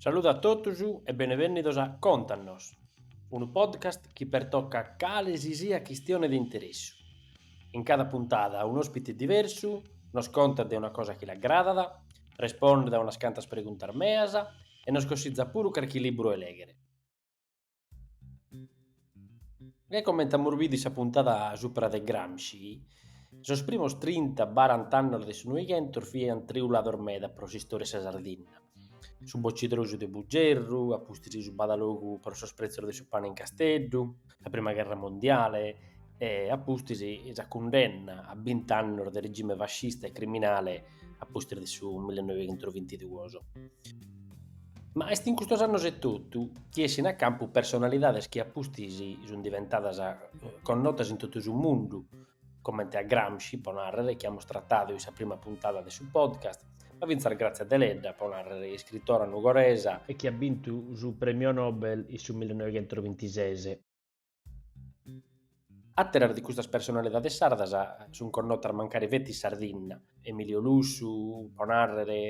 Saludu a totus e benevènnidos a Contanos, unu podcast chi pertocat cale si siat chistione de interessu. In cada puntada un'òspite diversu nos contat de una cosa chi l'agradat, respondet a unas cantas preguntas meas e nos cossizat puru carchi libru 'e lèghere. Ca comente amus bidu in sa puntada supra de Gramsci, sos primos trinta baranta annos de su Noighentos fiant triulados meda pro s'istória 'e sa Sardinna, su bocitrosu de Bugerru, a pustis su badalogu pro sos pretzos de su pane in Casteddu, sa prima gherra mondiale e a pustis sa cundenna a bint'annos de regime fascista e criminale a pustis de su millenoighentrovintidduos. Ma est in custos annos etotu chi essint a campu personalidades chi a pustis sunt diventadas connotas in totu su mundu, comente a Gramsci, pro nàrrere, chi amus tratadu in sa prima puntada de su podcast, ma fintzas Grazia Deledda, pro nàrrere, iscritora nugoresa, e chi at bintu su Prèmiu Nobel in su millenoighentrovintisises. Àteras de custas personalidades sardas sunt connotas mancari feti in Sardinna, Emilio Lussu, pro nàrrere,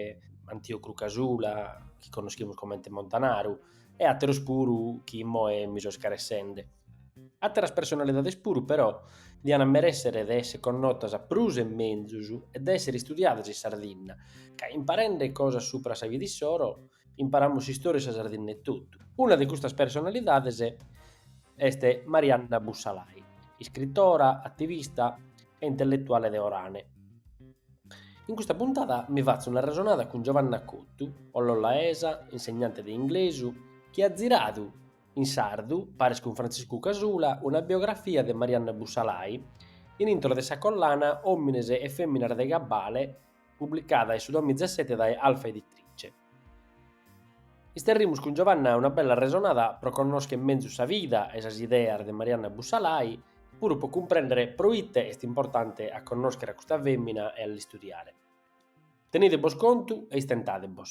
Antiocru Casula, chi connoschimus comente Montanaru, e àteros puru chi immoe mi so scaressende. Àteras personalidades puru, però, diant a merèssere de èssere connotas prus e menzus e de èssere istudiadas in Sardinna, ca imparende cosas supra sa vida issoro Imparamus s'istòria 'e sa Sardinna etotu. Una de custas personalidades est Marianna Bussalai, iscritora, ativista e intelletuale de Orane. In custa puntada mi fatzo un'arresonada cun Giovanna Cottu, ollolaesa, insegnante de inglesu, chi at ziradu in sardu, paris cun Frantziscu Casula, una biografia de Marianna Bussalai in intro de sa collana Òmines e fèminas de gabbale Publicada in su domitzesete dae Alfa Editrice. Isterrimus cun Giovanna una bella arresonada pro connoschere menzus sa vida e sas ideas de Marianna Bussalai, puru pro cumprèndere pro ite est importante a connòschere a custa fèmina e a l'istudiare. Tenide·bos contu e istentade·bos.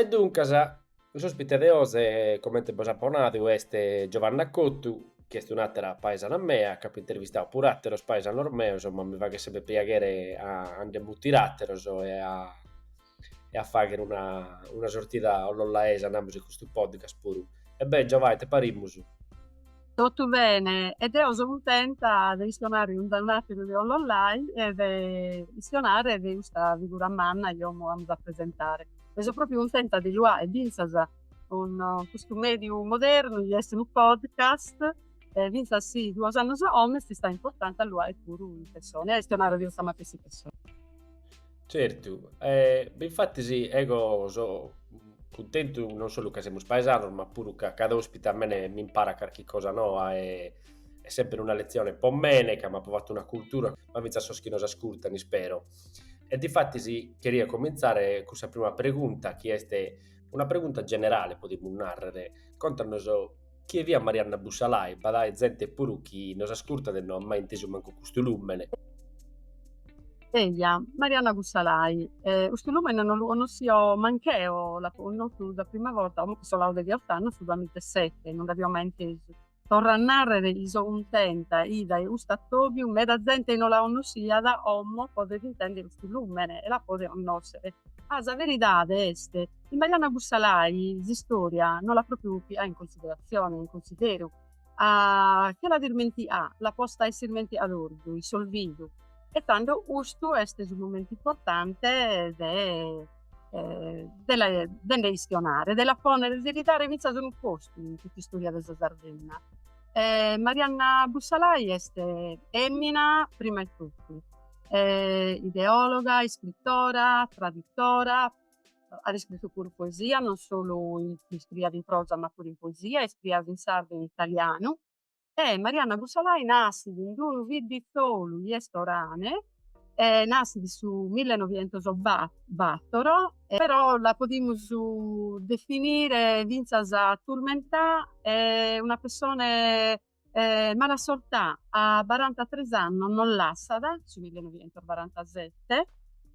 E duncas, s'ospite de oze comente bos apo nadu est Giovanna Cottu, chi est un'atera paesana mea, ch'apo intervistadu puru ateros paesanos meos, ma mi faghet sempre piaghere a nde mutire ateros e a fagher una sortida ollolaesa, namus in custu podcast puru. E beh Giova ite parimus? Totu bene e deu so cuntenta de chistionare cun d'unu ateru de Ollolai e de chistionare de custa figura manna chi como amus a presentare. E so propriu cuntenta de lu faer finzas cun custu mediu modernu chi esti unu podcast e finzas si duos annus a como est istau importante a lu faer puru in persona e a chistionare de custa matessi persona. Certu, e infattis ego so cuntentu non solu ca semus paesanos ma puru ca cada ospite a mene mi imparat carchi cosa noa e est sempre una letzione po mene ca m'apo fatu una cultura, ma fintzas a sos chi nos ascurtan ispero. E difatis cheria comintzare cun sa prima pregunta chi est una pregunta generale podimus nàrrere, contanos chie fiat Marianna Bussalai, b'at àere zente puru chi nos ascurtat e no at mai intesu mancu custu lùmene. Eja, Marianna Bussalai, custu lùmene no lu connoschio manch'eo, l'apo connotu sa prima borta oi sun colados dechiott'annos, su duamiza e sete, no nd'avio mai intesu. Torro a nàrrere chi so cuntenta chi dae custu atòbiu meda zente chi no la connoschiat, como podet intèndere custu lùmene e la podet connòschere. Ah, sa beridade est chi Marianna Bussalai s'istòria no l'at pròpiu piada in consideratzione, in consideru, che l'at ismenticà, l'at posta in s'ismenticatorzu, in s'olvidu, e tando custu est su momentu importante de de la de nde chistionare, de la pònnere, de li dare fintzas unu postu in cust'istòria de sa Sardinna. Marianna Bussalai est fèmina prima 'e totu, ideòloga, iscritora, tradutora At iscritu puru poesia, non solu iscriiat in prosa ma puru in poesia, iscriiat in sardu e in italianu. E Marianna Bussalai nascit in unu bidditzolu chi est Orane e nascit in su millenovichentos battoro e però la podimus definire fintzas turmentà e una pessone malassortà, a barantatres annos nos lassat, su millenovichentosbarantasette,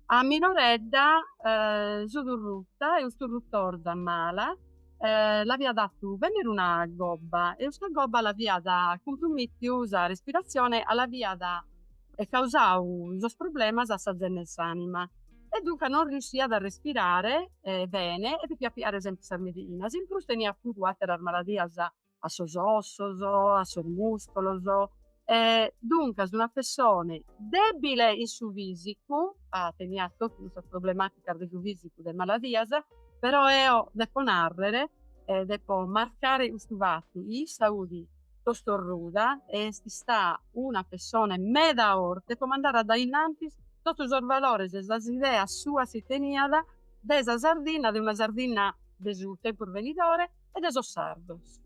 a minoredda fut orrutta e cust'orrutorza mala l'aviat fatu bènnere una gobba e custa gobba l'aviat cumprumìttiu sa respiratzione e l'aviat causau sos problemas a sa zenna 'e s'anima e duncas non riusciat a respirare bene e depiat piare sempre sas medichinas in prus teniat puru àteras maladias a sos ossos, a sos muscolos, duncas una pessone debile in su fisicu, teniat totu cussas problematicas de su fisicu de maladias, però eo depo narrer e depo marcare custu fattu, chi issa fut tostorruda e est istada una pessone meda forte po mandare a dae innanti totu sos valores e sas ideas suas chi teniat de sa Sardinna, de una Sardinna de su tempus benidore e de sos sardos.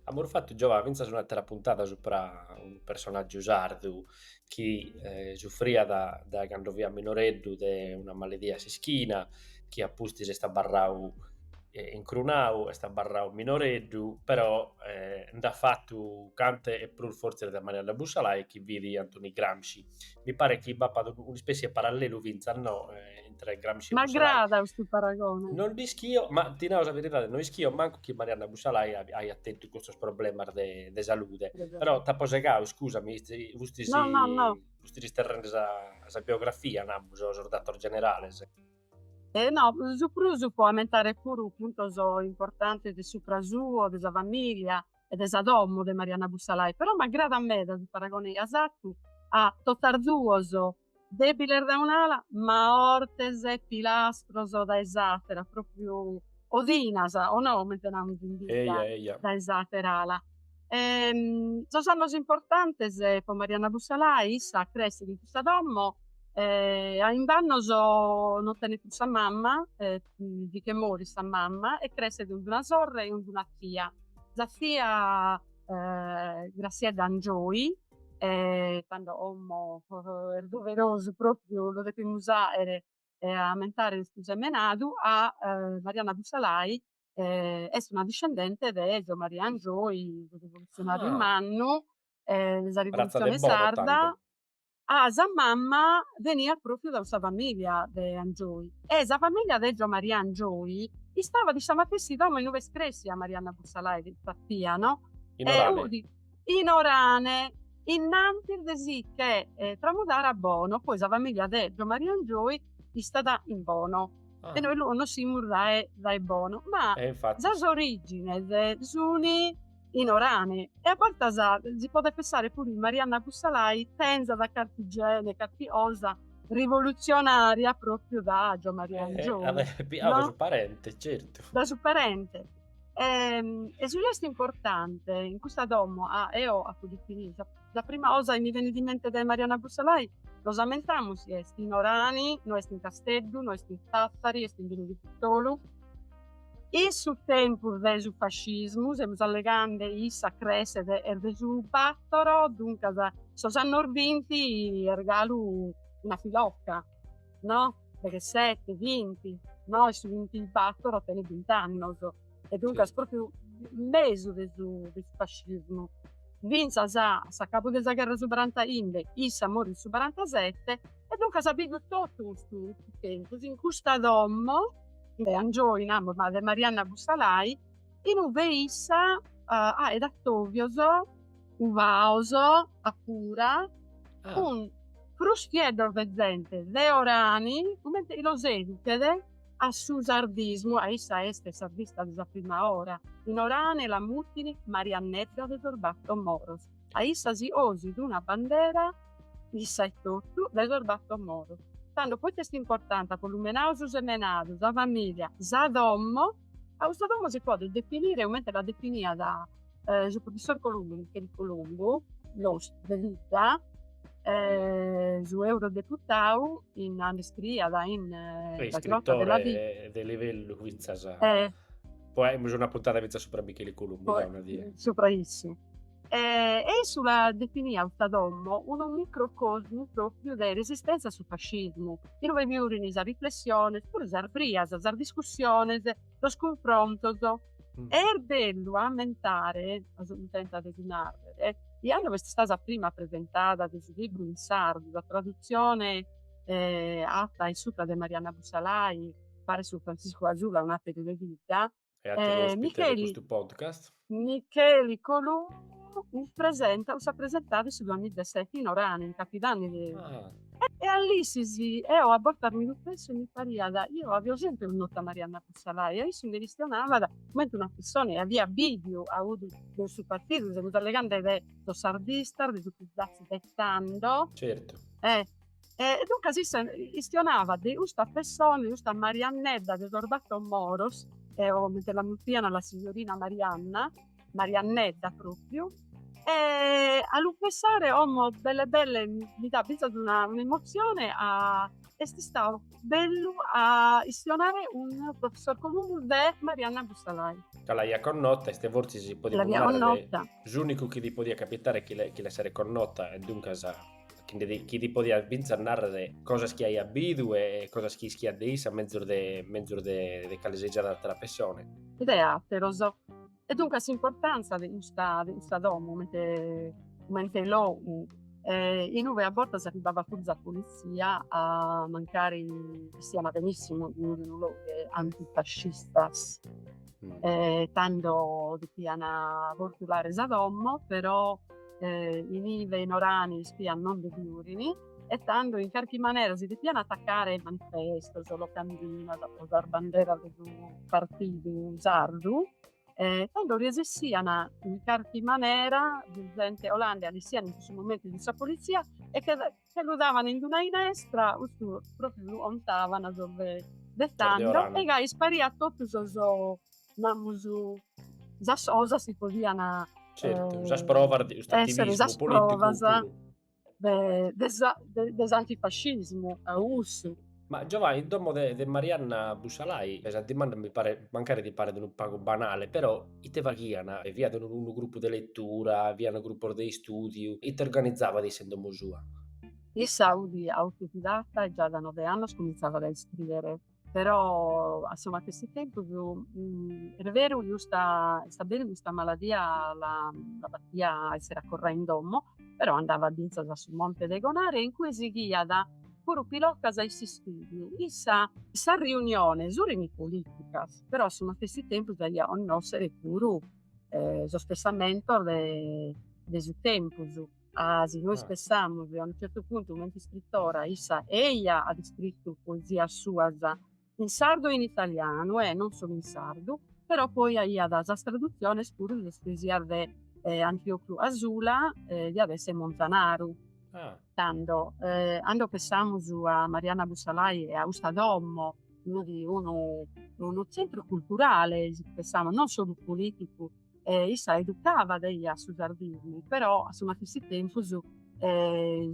Amus fatu, Giovà, fintzas un'àtera puntada supra unu personàgiu sardu chi sufriat dae cando fiat minoreddu de una maladia a s'ischina, chi a pustis est abarradu incrunadu, est abarradu minoreddu, però nd'at fatu cantu e prus fortzes de Marianna Bussalai chi fit Antoni Gramsci. mi paret chi b'apat un'ispessi 'e parallelu fintzas no intre Gramsci e Bussalai. M'agradat custu paragone. Non nd'ischio, ma ti naro sa beridade, non ischio mancu chi Marianna Bussalai aiat tentu custos problemas de de salude, però t'apo segadu, iscusami, fustis No, no, no. fustis isterrendi sa sa biografia, namus, sos datos generales. E no, su prus po ammentare puru puntos importantes de supra suo, de sa familia, e de sa domo de Marianna Bussalai, però m'agradat meda su paragone chi as fatu a totas duos, debiles dae un'ala ma hortes e pilastros dae s'atera, propriu odinas o no comente namus in bidda dae s'atera ala. Sos annos importantes po Marianna Bussalai, issa cressit in custa domo, a imb'annos non tenet prus sa mama, li che morit sa mama e cresset cun d'una sorre e cun d'una tia. Sa tia Grassiedda Angioy tando omo est doverosu propriu lo depimus aere a ammentare custu sambenadu a Marianna Bussalai est una discendente de Gio Maria Angioy su rivoluzionariu mannu de sa rivolutzione sarda a sa mamma veniat propriu da sa familia de Angioi e sa familia de Gio Maria Angioi istabat in sa matessi domo in ue est cressia Marianna Bussalai, sa tia no? In Orane. In Orane, innantis de si che tramudare a Bono, poi sa familia de Gio Maria Angioi istat in Bono e nois lu connossimus dae Bono ma sas origines suni in Orane e a bortas si podet pensare puru chi Marianna Bussalai tenzat carchi gene, carchi osa rivolutzionaria propriu da Gio Maria Angioi. Eh, no? su parente, certu. Da su parente. E, ehm, e su chi est importante in custa domo, a, ah, eo apu ditu, sa, sa prima osa chi mi venit in mente de Marianna Bussalai, nos ammentamus, est in Orani, no est in Casteddu, no est in Tattari, est in d'unu bidditzolu, In su tempus de su fascismu, semus allegande chi issa cresset est de su batoro, duncas sos annos binti est galu una piloca, no? Deghesete, binti, no? E su bintibatoro tenit bint'annos. E duncas pròpriu in mesu de su de su fascismu. Fintzas a s'acabu de sa gherra de su barantaimbe, issa morit in su barantasete e duncas bivet totu custu tempus in custa domo de Angioi, namus ma de Marianna Bussalai, in ue issa aet atovios uvaos a fura cun crustieddos de zente de orani comente chi los educhet a su sardismu, a issa est sardista de sa prima ora, in orani la mutint Mariannedda de sos battor moros. A issa si osit una bandera issa etotu de sos battor moros. Tando poita est importante, apo lumenadu su semenadu, sa familia, sa domo? A custa domo si podet definire comente la definiat su professor Columbu, Micheli Columbu, nostru de vidda, su eurodeputadu in, nd'iscriiat in sa Grotta della Vipera. Iscritore de livellu fintzas. Poi aimus una puntata fintzas supra Micheli Columbu, Poi, una die. Supra issu. E, e issu la definiat sa domo unu microcosmu pròpiu de resistentzia a su fascismu, inue bi fiurint sas riflessiones, puru sas brias, sas discussiones, sos cunfrontos. E est bellu ammentare, aso mi tentat de si nàrrere, chi cando est istada sa prima presentada de su libru in sardu, sa tradutzione fata in supra de Marianna Bussalai, paris cun Franciscu Casula un ateru de vidda e ateru ospite de custu podcast. Micheli Columbu presentat sa presentada de su duamilla e seti in Orana in Capidanni de e a Lissi si eo a bortas mi lu penso mi pariat deo avio sempre connota Marianna Bussalai e issu nde chistionabat comente una pessona chi avia biviu audu de su partidu semus allegande de sos sardistas de su Psd'Az de tando certu e E duncas issu chistionavat de custa pessona, de custa Mariannedda de sos battor moros, comente la muttian la signorina Marianna, Mariannedda propriu, e a lu pensare como belle belle mi dat finzas una emozione a, est istadu bellu a chistionare cun professor Columbu de Marianna Bussalai. Ca l'aia connota, est fortzis si podiat narrer s'unicu chi li podiat capitare chi l'esseret connota e duncas chi ti podiat fintzas narrer cosas chi aiat bidu e cosas chi ischiat de issa mezus de mezus de de cale si siat atera pessone. De atteros. E duncas s'importantza de custa de custa domo comente comente logu inue a bortas arribbavat puru sa polizia a mancari ischiana benissimu in unu logu antifascistas tando depiana vortulare sa domo però inive in Orani ispias non ndi fiurin e tando in carchi manera si depian atacare sos manifestos, sas locandinas, po sas banderas de su partidu sardu e tando resessian in carchi manera, zente 'olande li 'essian in cussu momentu cun sa polizia e che los ghetavano in una inestra, custu propriu lu contavano sos de de tando e gai ispariat totu sos namus sas cosas chi podiana Certu, sas provas de custu attivismu politicu puru. de de sa de s'antifascismu a cussu Ma giovai in domo de de Marianna Bussalai, e sa dimanda mi paret, mancari ti paret unu pagu banale, però ite faghian, fiat unu unu gruppu de letura, fian gruppos de istùdiu, ite organizabat issa in domo sua? Issa udi autodidata e già da nobe annos cumintzàbat a iscrìere, però a su matessi tempus est beru chi custa, est beru chi custa maladia la la batiat a essere accorrà in domo, però andavat fintzas a su monte de Gonare in cue sighiat puru pilocas in s'istùdiu issa sas riuniones urini politicas però a su matessi tempus aiat connossere puru sos pessamentos de su tempus ah si nois pessamus a unu certu puntu comente iscritora issa eia at iscrittu poesias suas in sardu e in italianu e non solu in sardu, però poi aiat sas tradutziones puru de sas poesias de Antiocu Casula chi diat esse Montanaru. Tando, cando pensamus a Marianna Bussalai e a custa domo, unu tzentru culturale, si pensamus, non solu politicu, e issa educavat eia a su sardismu, però a su matessi tempus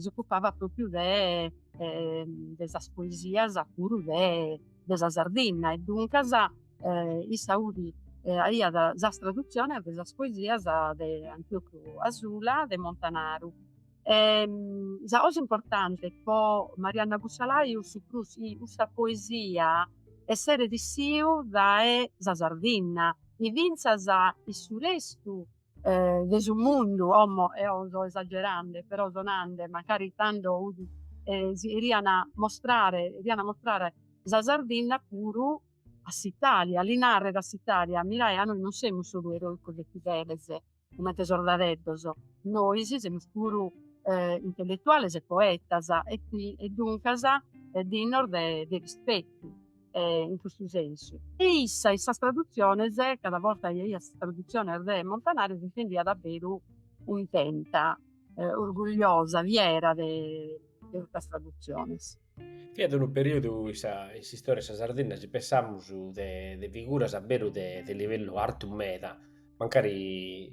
s'ocupavat propriu de de sas poesias puru de de sa Sardinna e duncas issa udi aiat sas tradutziones de sas poesias de Antiocu Casula de Montanaru sa cosa importante po Marianna Bussalai ut su prus chi custa poesia esseret issiu dae sa Sardinna chi finzas in su restu de su mundu como eo so esagerande però so nande mancari tando unu si 'erian mostrare 'erian mostrare sa Sardinna puru a s'Italia li narrer a s'Italia mirae ca nois non semus solu eroicos e fideles Comente sordadeddos, nois semus puru intelletuales e poetas e qui e duncas dignos de rispettu in custu sensu. E issa in sas tradutziones, cada borta chi aiat sas tradutziones de Montanaru si sentiat a beru cuntenta, orgugliosa, fiera de custas tradutziones. Fiat unu periodu in sa in s'istoria 'e sa Sardinna si pensamus de de figuras a beru de de livellu artu meda, mancari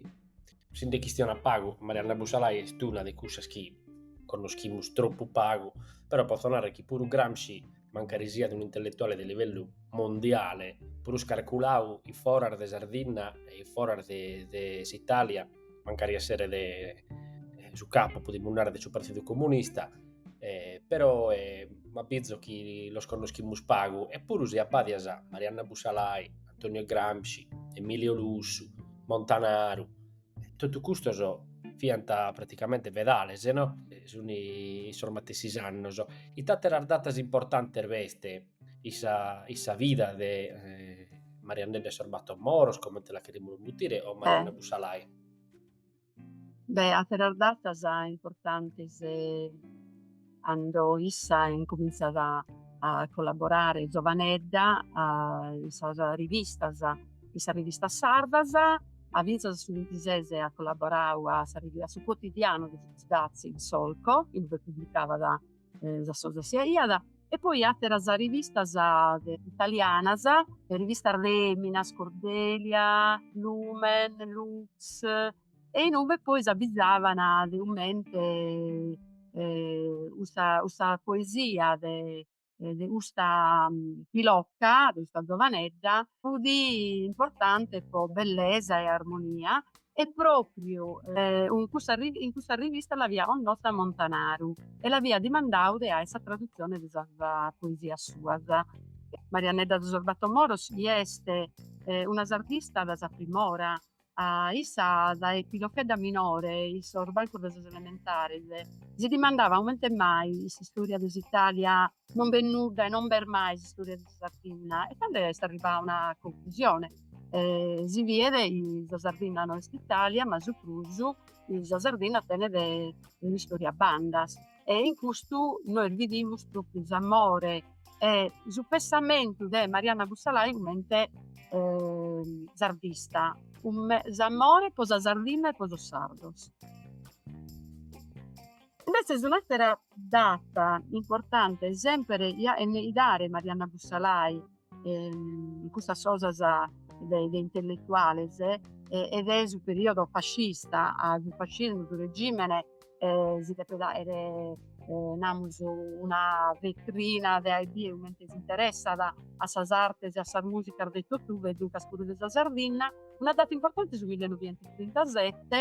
si nde chistionat pagu, Marianna Bussalai est una de cussas chi connoschimus troppu pagu, però potzo narrer chi puru Gramsci, mancari siat unu intelletuale de livellu mondiale, prus carculau in foras de Sardinna e in foras de de s'Italia mancari essere de eh, su capo, podimus narrare, de su Partidu Comunista, eh, però eh, m'abbizo chi los connoschimus pagu, e puru si abbadias a Marianna Bussalai, Antonio Gramsci, Emilio Lussu, Montanaru, eh, totu custos fint praticamente fedales, no? Eh, sunt in sos matessis annos. Ita àteras datas importantes b'est in sa, in sa vida de eh, Mariannedda e sos battor moros, comente la cherimus mutire, o Marianna eh. Bussalai? Beh, àteras datas importantes cando issa incumintzat a, a collaborare zovanedda a, in sas rivistas, in sas rivistas sardas, a fintzas a su vintises at collaboradu a sa a su quotidianu de su PSd'Az, Il Solco, in ue publicavat sas poesias e poi ateras rivistas italianas, rivistas feminas, Cordelia, Lumen, Lux e inue poi s'abbizavan de cumente custa custa poesia de de custa pilocca, de custa giovanedda fudi importante po bellesa e armonia E pròpriu in cussa rivista l'avia connota Montanaru e l'avia dimandau de àere sa tradutzione de sas poesias suas. Mariannedda de sos battor moros est una sardista dae sa prim'ora, a issa dae pilochedda minore in sos bancos de sas elementares si dimandavat comente mai in s'istòria de s'Itàlia Non b'est nudda e non b'est mai s'istòria de sa Sardinna e tando est arribada a una conclusione, si biet chi sa Sardinna no est Italia ma su prus chi sa Sardinna tenet un'istòria a bandas e in custu nois bidimus propriu s'amore e su pensamentu de Marianna Bussalai comente sardista, s'amore po sa Sardinna e po sos sardos. Imbetzes un'àtera data importante semper po 'entovare Marianna Bussalai in custas cosas de de intelletuales, ed est su periodo fascista, a su fascismu su regimene si depet àere namus una vetrina de àere idea comente si interessat a sas artes e a sas musicas de totue e duncas puru de sa Sardinna, una data importante su millenovichentostrintasette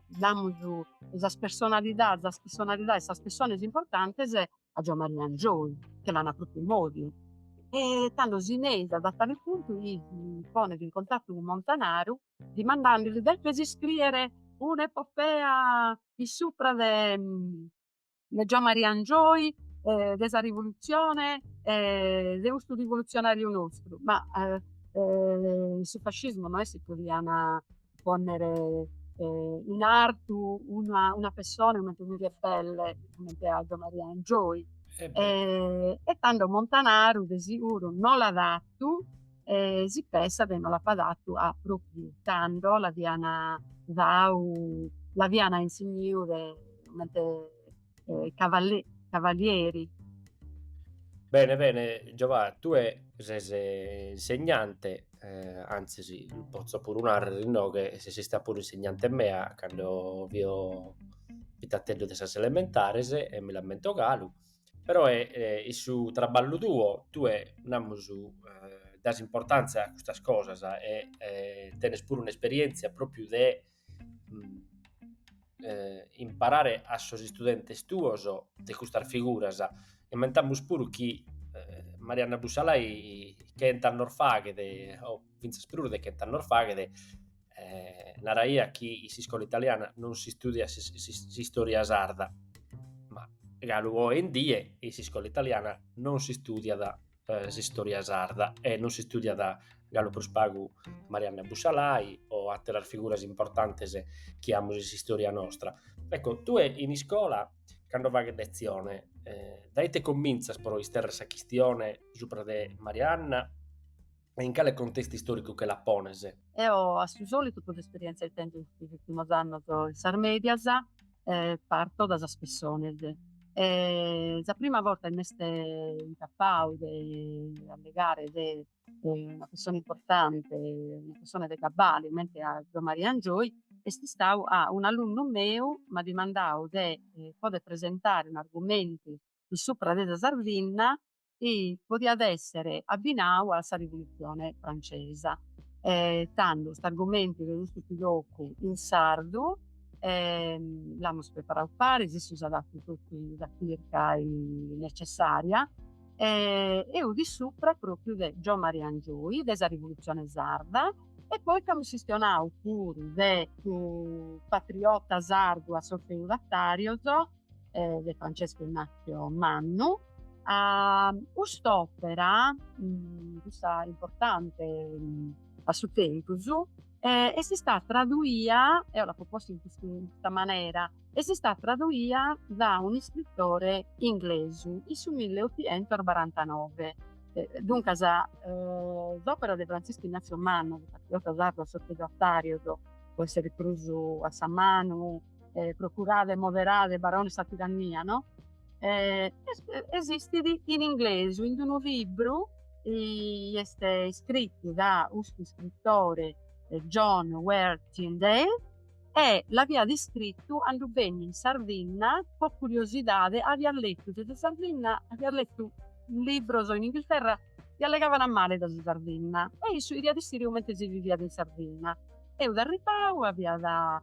namus de sas personalidades, sas personalidades, sas pessones importantes a giò Maria Angioy, che l'an a propriu in òdiu e tando si nch'issa a tale puntu si ponet in contattu cun Montanaru dimandandili, depes iscriere un'epopea in supra de de Gio Maria Angioy e de sa rivolutzione e de custu rivolutzionàriu nostru, ma su fascismu no est chi podiant pònnere in artu una pessone comente unu rebelle comente a Gio Maria Angioy e tando Montanaru de siguru no l'at fatu E si pensat chi no l'apat datu a propriu tando l'aiant dau l'aiant insigniu de comente cavalieri. Bene bene Giova tue ses insegnante antzis potzo puru narrer inoghe ses istada puru insegnante mea cando fio pitateddu de sas elementares e mi l'ammento galu Però e, e, in su traballu tuo, tue, namus, das importantzia a custas cosas e, e tenes puru un'esperientzia propriu de imparare a sos istudentes tuos de custas figuras, ammentamus puru chi Marianna Bussalai chent'annos faghet o fintzas prus de chent'annos faghet, eh, naraiat chi in s'iscola italiana non si studiat s'istória sarda, ma galu oe in die in s'iscola italiana non si studiat s'istória sarda e non si studiat galu prus pagu Marianna Bussalai o àteras figuras importantes chi amus in s'istória nostra. Ecco, tue in iscola cando faghes letzione, dae ite comintzas pro isterrere sa chistione subra de Marianna e in cale contestu istòricu che la pones? Eo a su sòlitu po s'esperièntzia chi tèngio in sos ùrtimos annos in sas mèdias parto dae sas pessones. Sa prima borta chi m'est incapadu de allegare de una pessone importante, una pessone de cabali comente a Gio Maria Angioy, est istadu ca un'alunnu meu m'at dimandadu de poder presentare un'argumentu in supra de sa Sardinna chi podiat èssere abbinadu a sa Rivolutzione francesa. Tando st'argumentu de custu fut totu in sardu l'amus preparadu paris, issu s'at fatu totu sa chirca necessària e fut in supra pròpriu de Gio Maria Angioy, de sa Rivolutzione sarda e poi nc'amus chistionadu puru de su patriota sardu a sos feudatàrios eh, de Francesco Ignazio Mannu, a cust'òpera, mm, custa importante mm, a su tempus, eh, est stata traduia, eo l'apo posta in custa manera, est stata traduia da un iscritore inglesu in su 1849. Eh, duncas, eh, s'òpera de Francesco Ignazio Mannu, de patriota sardu a sos feudatarios, pro essere prus a sa manu, eh, procurade 'e moderare barones sa tirannia, no? Eh, esistit in inglesu, in unu libru i est iscritu da custu scrittore eh, John Warre Tyndale e l'aviat iscritu 'ando benit in Sardinna po curiosidade, aviat letu de sa Sardinna, aviat letu libros in Inghilterra e allegavana male de sa Sardinna e issu 'eriat issire comente si viviat in Sardinna. Eu d'arribbau aviat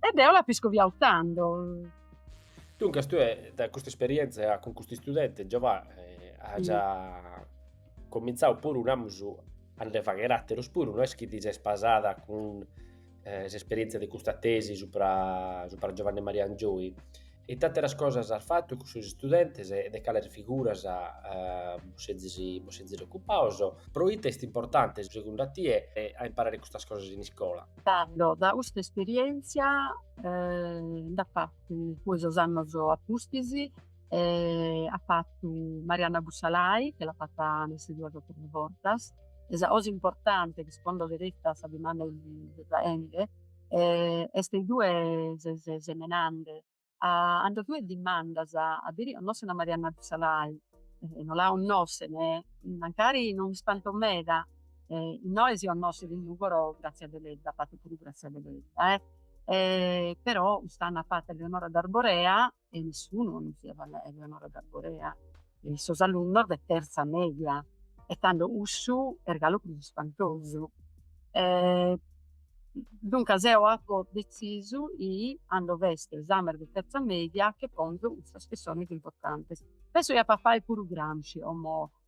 E deo l'apo iscoviau tando. Duncas tue dae custa esperienza cun custu istudente Giovà eh, as mm. comintzau puru namus a nde fagher àteros puru, no est chi ti ses pasada cun eh, s'esperientzia de custa tesi supra, supra Giovanni Maria Angioy, Ite àteras cosas as fatu cun sos istudentes e de cales figuras bos sezis ocupados? Pro ite est importante, segundu a tie, a imparare custas cosas in iscola? Tando, dae custa esperièntzia nd'at fatu poi sos annos a pustis, at fatu Marianna Bussalai, chi l'at fata nessi duas o tres bortas, e sa cosa importante chi segundu chereit sa dimanda chi si faende Est 'i tue ses semenande. 'Ando tue dimandas a biri 'onnossen a Marianna Bussalai. No la 'onnossen, mancari no m'ispanto meda. Innoe si 'onnosset in Nùgoro Grazia Deledda, fatu puru Grazia Deledda eh. Però cust'annu at fattu Eleonora d'Arborea e nessunu 'onnossiat a Eleonora d'Arborea e sos alunnos de terza media e tando cussu est galu prus ispantosu e duncas eo apo detzisu 'i cando b'est s'esame de terza media che ponzo custas pessones importantes, penso chi ap'a fai puru Gramsci como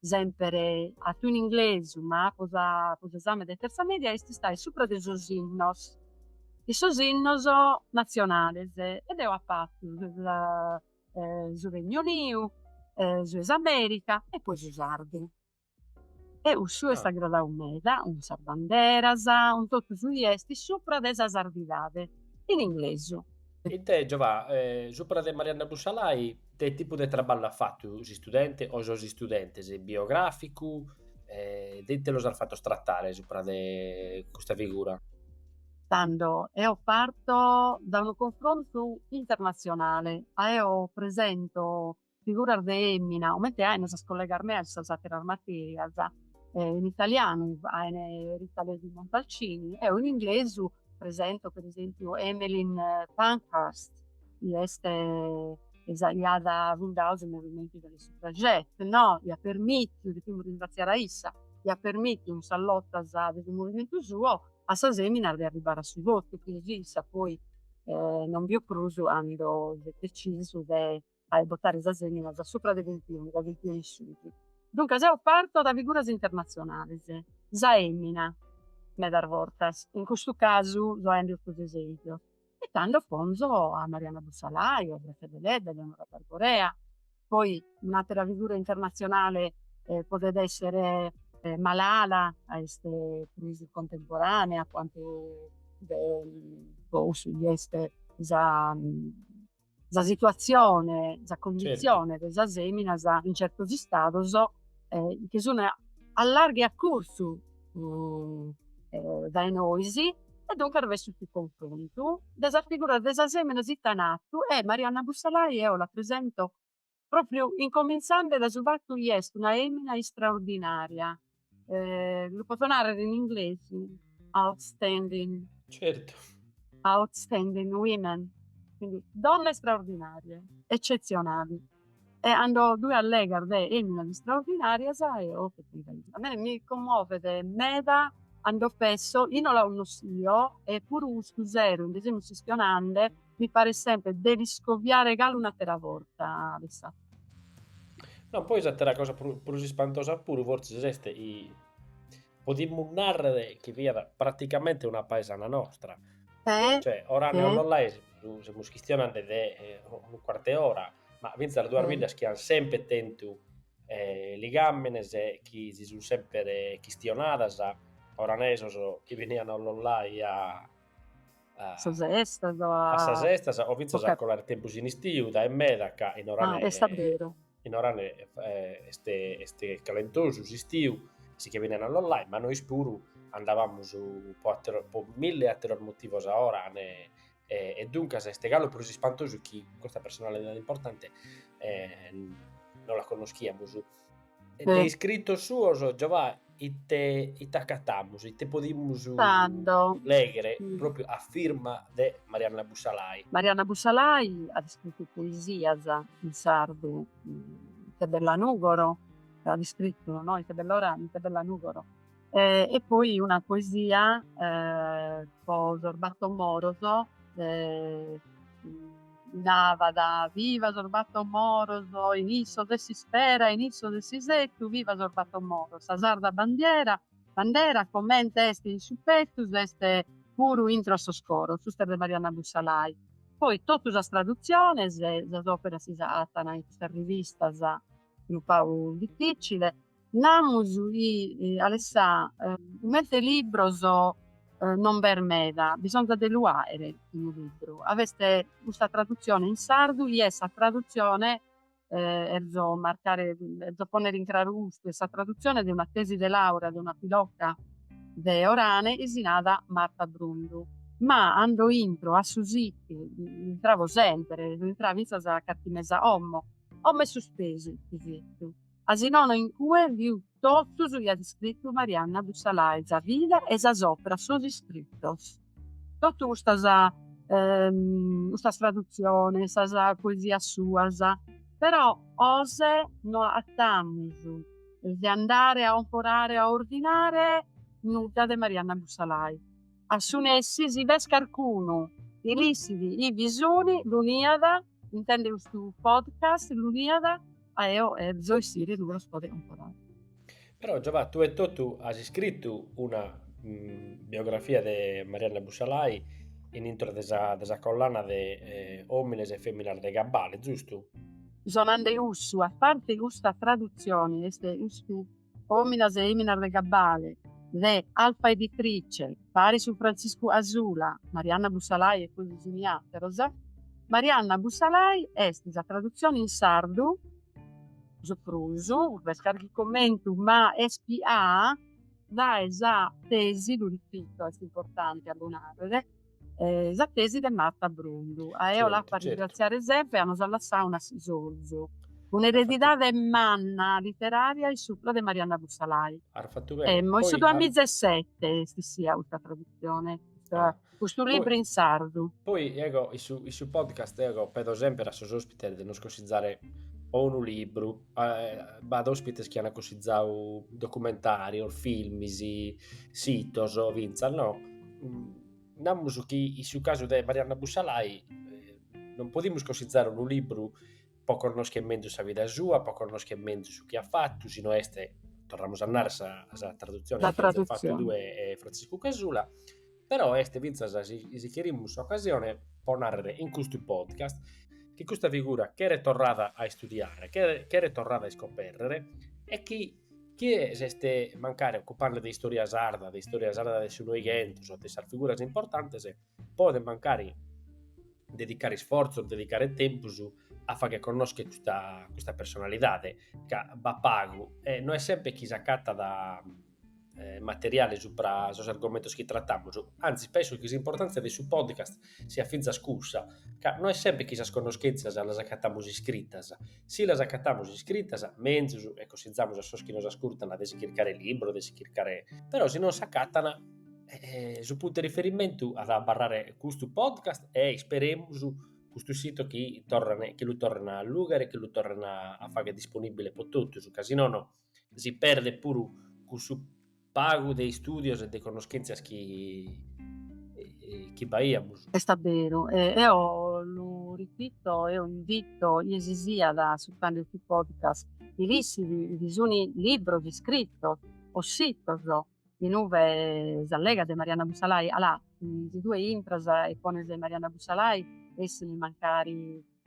semper atu in inglesu, ma po po s'esame de terza media, est istau supra de sos innos, de sos innos nazionales e deo apo fatu su Regnu Uniu, su 'e s'America e poi su sardu. E cussu est agradau meda, cun sas banderas, cun totu su chi esti supra de sa sardidade, in inglesu. E ite Giova', supra de Marianna Bussalai Ite tipu de traballu at fatu s'istudente o sos istudentes, biogràficu, e de ite los as fatos tratare supra de custa figura? Tando, eo parto dae unu confrontu internatzionale, a eo presento figuras de emina, comente aint sas collegas meas in sas àteras matèrias, in italianu aint Rita Levi Montalcini, eo in inglesu Presento per esempiu Emmeline Pankhurst chi est sa chi aiat fundau su movimentu de sas suffragette no? Iat permitiu, depimus ringraziare a issa, iat permitiu in sas lotas de su movimentu suo a sas feminas de arribare a su votu chi issa poi non biu prus ando ant decisu de a votare sas feminas dae supra de vintunu, dae vintunu in susu. Duncas eo parto da figuras internazionales. Sa femina medas bortas, in custu casu so aende custos esempios e tando ponzo a Marianna Bussalai, a Gratzia Deledda, Eleonora d'Arborea, poi un'atera figura internazionale podet essere Malala ca est prus contemporanea a cuantu de po cussu chi est sa sa situazione, sa condizione de sas feminas in certos istados chi sun a largu e a curtzu dae nois e duncas b'est su confrontu de sas figuras de sas feminas ite an atu e Marianna Bussalai eo la presento Propriu incominzande da su fattu chi est una emina istraordinaria, lu poto narrere in inglesi, outstanding. Certu. Outstanding women, quindi donne straordinarie, eccezionali. E ando tue allegas de eminas istraordinarias e oh che ti devo diri. A mie mi commovet meda ando pesso chi non la connoschio e puru custu sero nde semus chistionande Mi paret semper de l'iscovrire galu un'atera borta, bae. No, poi s'atera cosa prus ispantosa puru fortzis est chi podimus nàrrere chi fiat praticamente una paesana nostra, cioè Orane-Ollolai, semus chistionende de unu cuart'e ora, ma fintzas duas biddas chi ant semper tentu ligàmines e chi si sun semper chistionadas, oranesos chi benian a Ollolai a sas estas o a. A sas estas o fintzas a colare tempus in istiu, dae meda ca in Orane. Ah, est a beru. In Orane est est calentosu s'istiu, si che benian a Ollolai, ma nois puru andavamus po atteros po milli atteros motivos a Orane e duncas est galu prus ispantosu chi custa personalidade importante non la connoschiamus E de iscritos suos, Giovà, ite, ite acatamus, ite podimus Tando. lèghere pròpiu a firma de Marianna Bussalai? Marianna Bussalai at iscritu poesias in sardu, Ite bella Nùgoro, at iscritu no Ite bell'Orane, Ite bella Nùgoro E poi una poesia po sos battor moros narat, viva sos battor moros in issos est s'ispera in issos est s'isettu, viva sos battor moros, sa sarda bandiera bandera comente est in su pettus est puru intro a sos coros, custa est de Marianna Bussalai, poi totu sas tradutziones, sas operas si attan in custas rivistas unu pagu difficile, Namus chi Alessà comente libros non b'est meda, bisonzat de lu aere unu libru. A b'est custa tradutzione in sardu chi est sa tradutzione, erzo marcare, erzo ponnere in craru custu, est sa tradutzione de una tesi de laurea de una piloca de Orane chi si nada Marta Brundu. Ma ando intro a su situ, intravo sempre, intrà finzas a carchi mese a 'omo, 'omo est suspesu chi fettu. Asinono in cue fiu tottu su chi at iscrittu Marianna Bussalai, sa vida e sas operas sos iscrittos. Tottu custas custas traduziones, sas poesias suas, però oze no attamus de andare a omporare a ordinare nudda de Marianna Bussalai. A su nessi si b'est carcunu chi l'issit ive sunu lu niat Intendet custu podcast lu niat a eo erzo issire uve los poder omporare. Però Giova, tue e totu as iscritu una biografia de Marianna Bussalai in intro de sa de sa collana de Omines e feminas de Gabbale, zustu? So nande cussu, a parte custa tradutzione est custu Omines e eminas de Gabbale, de Alfa Editrice, paris cun Frantziscu Casula, Marianna Bussalai e così simiateros, Marianna Bussalai est sa tradutzione in sardu, su prus, b'est carchi commentu, ma est piaa dae sa tesi, lu ripito est importante a lu narrer, Sa tesi de Marta Brundu. A eo l'apo a ringraziare sempre a nos at lassau un'assisorzu. Un'eredidade manna literària in supra de Marianna Bussalai. 'Omo in su duamiza e sete est issia custa tradutzione, custu libru in sardu. Poi ego in su podcast ego pedo semper a sos ospites de nos consizzare o unu libru b'at òspites chi ant cussizadu documentàrios, filmis, sitos fintzas no, namus chi in su casu de Marianna Bussalai non podimus cussizare unu libru pro connoschere menzus sa vida sua, pro connoschere menzus su chi at fatu, si no est, torramus a narrer, sa traduzione chi as fatu tue e Frantziscu Casula Però est fintzas, si cherimus, s'ocasione pro nàrrere in custu podcast chi custa figura cheret torrada a istudiare, cheret torrada a iscopèrrere e chi chie s'est mancari ocupende de istòria sarda, de istòria sarda de su Noighentu, de sas figuras importantes, podet mancari dedicare isfortzos, dedicare tempus a fagher connoschere custa personalidade, ca b'at pagu e no est semper chi s'acatat eh, materiale supra sos argomentos chi trattamus, anzi penso chi s'importàntzia de su podcast siat fintzas cussa, ca no est semper chi sas connoschèntzias las acatamus iscritas, si las acatamus iscritas, menzus e cossizamus a sos chi nos ascurtan de si chircare libros, de si chircare... però si non s'acatan eh, su puntu 'e riferimentu at a abarrare custu podcast e isperemus custu sito chi torran, chi lu torren a allùghere, chi lu torren a fagher disponìbile pro totus, ca si nono Si perdet puru cussu pagu de istùdios e de connoschèntzias chi chi b'aiamus. Est a beru, e eo lu ripito, eo invito chie si siat ascurtande su podcast chi l'ischit, bi sunt libros iscritos o sitos In ue s'allegat de Marianna Bussalai? Alà, si tue intras e pones Marianna Bussalai essint mancari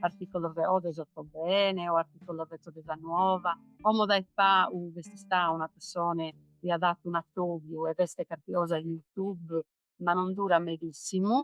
articolos o de s'Ortobene o articolos betzos de sa Nuova, como dae pau b'est istau una pessone chi at fatu un'atobiu e b'est carchi cosa in Youtube, ma non durat medissimu.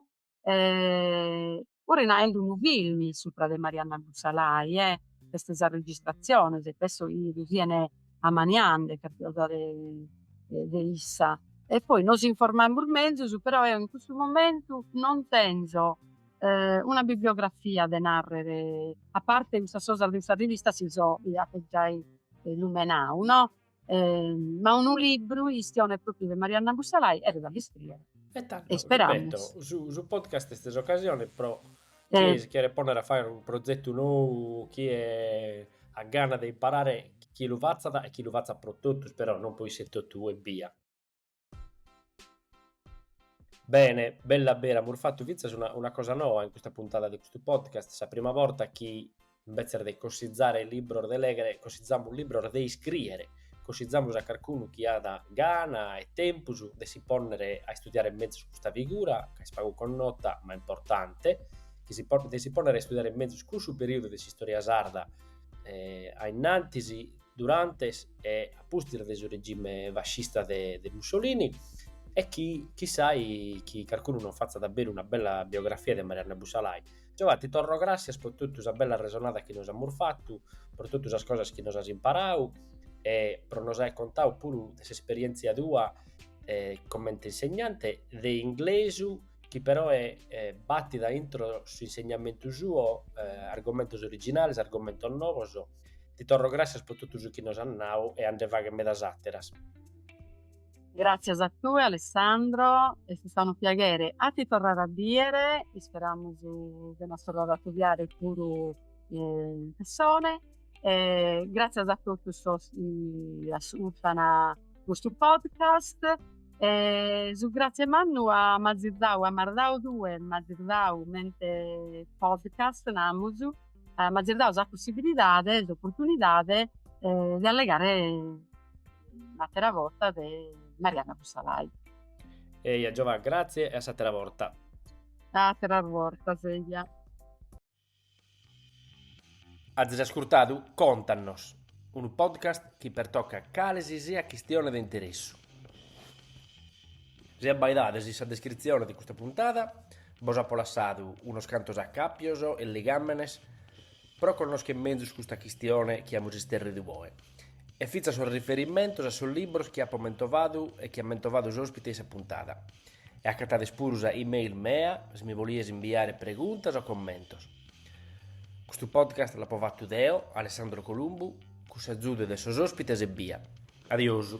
puru faende unu filmi supra de Marianna Bussalai e b'est sa registrazione e penso chi siene amaniande carchi cosa de de issa e poi nos informemus menzus però eo in custu momentu non tenzo una bibliografia de narrere a parte custas cosas de sa rivista chi bos apo giai lumenau no Ma unu libru chi chistionet pròpriu de Marianna Bussalai cheret a l'iscrìere. E tando, ripeto, su su podcast est s'ocasione pro chie si cheret pònnere a fàghere unu prozetu nou, chie at gana de imparare, chi lu fatzat e chi lu fatzat pro totus però, non pro isse etotu ebbia. Bene, bella bera, amus fatu fintzas una, una cosa noa in custa puntada de custu podcast, sa prima borta chi imbetzes de cossizare libros de leghere, cossizamus libros de iscriere, cossizamus a carcunu chi at gana e tempus de si ponnere a istudiare mezus custa figura, ca est pagu connota ma importante, chi si po- de si ponnere a istudiare mezus cussu periudu de s'istoria sarda a innantis, durante e a pustis de su regime fascista de Mussolini e chi chissai chi carcunu non fatzat a beru una bella biografia de Marianna Bussalai. Giovà, ti torro gràssias pro totu sa bella arresonada chi nos amus fatu, pro totu sas cosas chi nos as imparadu e pro nos aer contadu puru de s'esperièntzia tua comente insegnante de inglesu chi peroe batit a intro su insegnamentu suo argomentos originales, argomentos novos Ti torro gràssias pro totu su chi nos as nau e a nde fagher medas àteras. Gràssias a tue Alessandro, est istadu unu piaghere a ti torrare a bìdere, isperamus de nos torrare a acudiare puru in pessone e gràssias a totus sos chi ascurtant custu podcast e su gràtzie mannu ca m'azis dau, ca m'as dau tue, m'azis dau comente podcast namus M'azis dau sa possibilidade, s'opportunidade de allegare un'attera borta de Marianna Bussalai. Eja Giovà, grazie e a s'attera borta. A atteras bortas eja. Azis ascurtadu Contanos, unu podcast chi pertocat cale si siat chistione de interessu. Si abbaidades in sa descritzione de custa puntada bos apo lassadu unos cantos acàpios e ligàmenes pro connoschere mezus custa chistione chi amus isterridu oe e fintzas sos riferimentos a sos libros chi apo mentovadu e chi at mentovadu s'òspite in sa puntada. E acatades puru sa e-mail mea si mi cherides imbiare preguntas o commentos. Custu podcast l'apo fatu deo, Alessandro Columbu, cun s'agiudu de sos òspites ebbia. Adiosu.